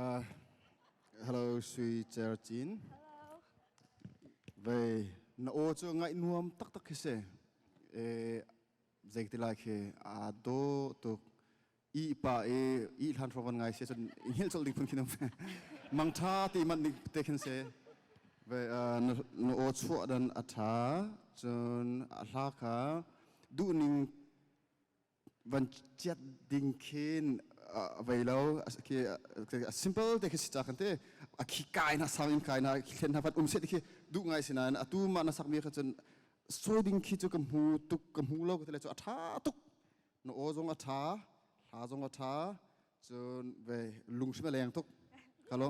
Uh, hello sui cher cin ve na o chu ngai nuam tak tak khi se e zeikti lai khi a do tu i pa e i hlan frogan ngai se chun i hil chol dik phun khinam mang tha ti man nik te khin se ve na o chua dan atha chun a hla kha du ning van ciat ding khin a vei lo a simple te khi si ta kan te a khi kai na sang in kai na thlen na vat um se khi du ngai sina na atu ma na sak mi kha chun soi ding khi chu ka mu tuk ka mu lo ka tele chu a tha tuk no o zong a tha hla zong a tha chun ve lung shima leng tuk hello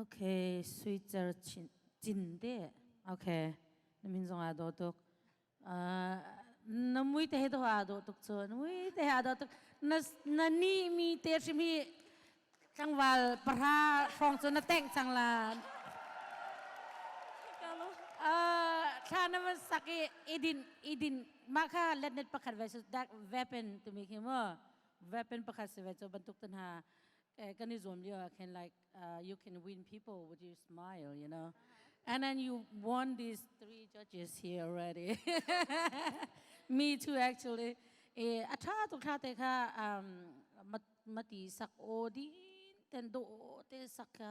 Okay, Switzer cin de. Okay, na min zong aa do tuk. Na mui te he do aa do tuk cu. Na mui te he aa do tuk. Na ni mi te hrim hi tlangwal para hrawng cu na tengh cang la. Thla na man sak i idin idin maka let net pakhat ve su dak weapon tu mi khi mu. weapon pakhat si ve cu bantuk te hna kan i zuam lio ah khin like uh, you can win people with your smile you know and then you won these three judges here already me too actually eh atha tu kha te kha um mati sak o din ten do te sak ka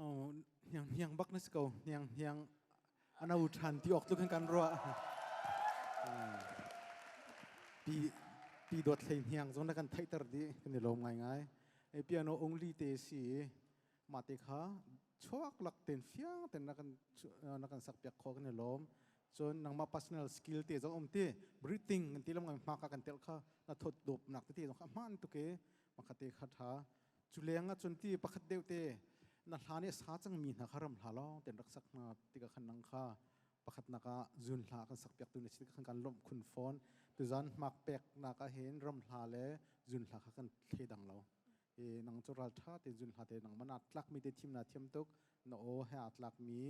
Oh, hniang hniang bak na si ko. Hniang hniang ano than ti ok tu kan kan ruah. Hmm. Pi pi dot hlei hniang zong na kan theiter di kan i lom ngai ngai. E piano only te si ma te kha chuak lak ten fiang ten na kan na kan sak piak kho kan i lom. Cun nang ma personal skill te zong om ti breathing kan ti lam ngai ma ka kan tel kha na thot dop nak te zong kha man tu ke ma kha te kha tha Cu leng ahcun ti pakhat deuh te na hla nih sa cangmi hna kha ram hla lawng ten rak sak hna tika khan nang kha pakhatnak ah zun hla kan sak piak tu na si khan kan lawmh khun fawn tuzan hmak peknak ah hin ram hla le zun hla kha kan thle dang lo e nang cu ral tha te zun hla te nang mana tlak mi te thim na thiam tuk na o he a tlak mi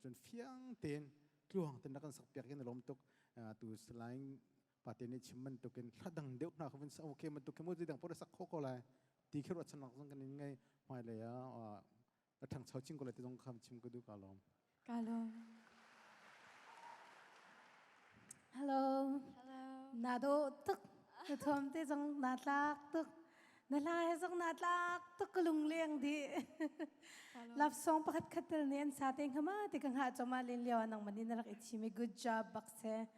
cun fiang ten tluang ten na kan sak piak in lom tuk tu salaing pate nih chim man tukin thladang deuh hna khavin sa okay man tukin mu dang pore sak kho ko lai ti khi ruat chan nak zong kan in ngai hmai le ya a thang chau ching ko le te zong kham chim ko du ka lom ka lom hello hello na do tuk na thom te zong na tlak tuk na la he zong na tlak tuk lung leng di love song pakhat khatel ne an sa te ngama te ka nga choma len lewa nang mani na rak ichi me good job bakse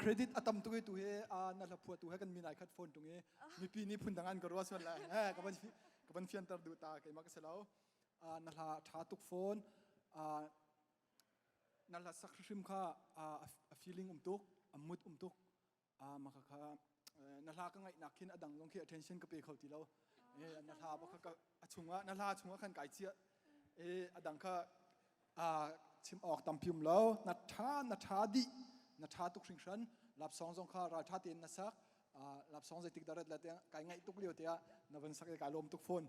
credit a tam tuk tu hi na hla phua tu he kan min ai khat phone tung i mipi nih phun dang an ka ruas man la eh ka van ka van fianter du ta ke ma ka selo na hla tha tuk phone na hla sak hrim kha a feeling um tuk a mood um tuk ma kha kha na hla ka ngai nak khin a dang long khi attention ka pe kho ti lo na hla ba kha a chunga na hla chunga khan kai chia e a dang kha chim awk tam pium lo na tha na tha di na tha tuk hring hran lap song zong kha ral tha tein na sak lap song zeitik darat la te kai ngai tuk lio te na van sak kai lom tuk phone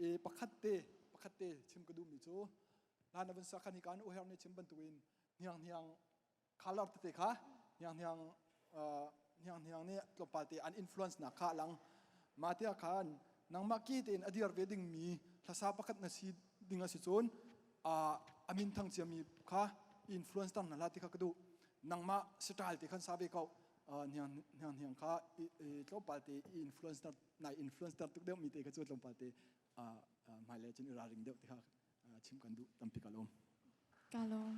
e pakhat te pakhat te chim ka dum mi chu la na van sak khan hi kan u her ne chim ban tu in hniang hniang Color tete kha Hniang Hniang Hniang Hniang nih tlawmpal te an influence nak kha lang mah tia khan nangmah ki tein a dir ve ding mi hlasa pakhat na si ding asi cun amin thang cia mi kha influence tang na la ti kha ka duh nangmah style te khan sa ve ko hniang hniang hniang kha tlawmpal te influence nai influence ter tuk deuh mi te kha cu tlawmpal te hmailei cun i ralring deuh ti kha chim kan duh tampi ka lawm ka lawm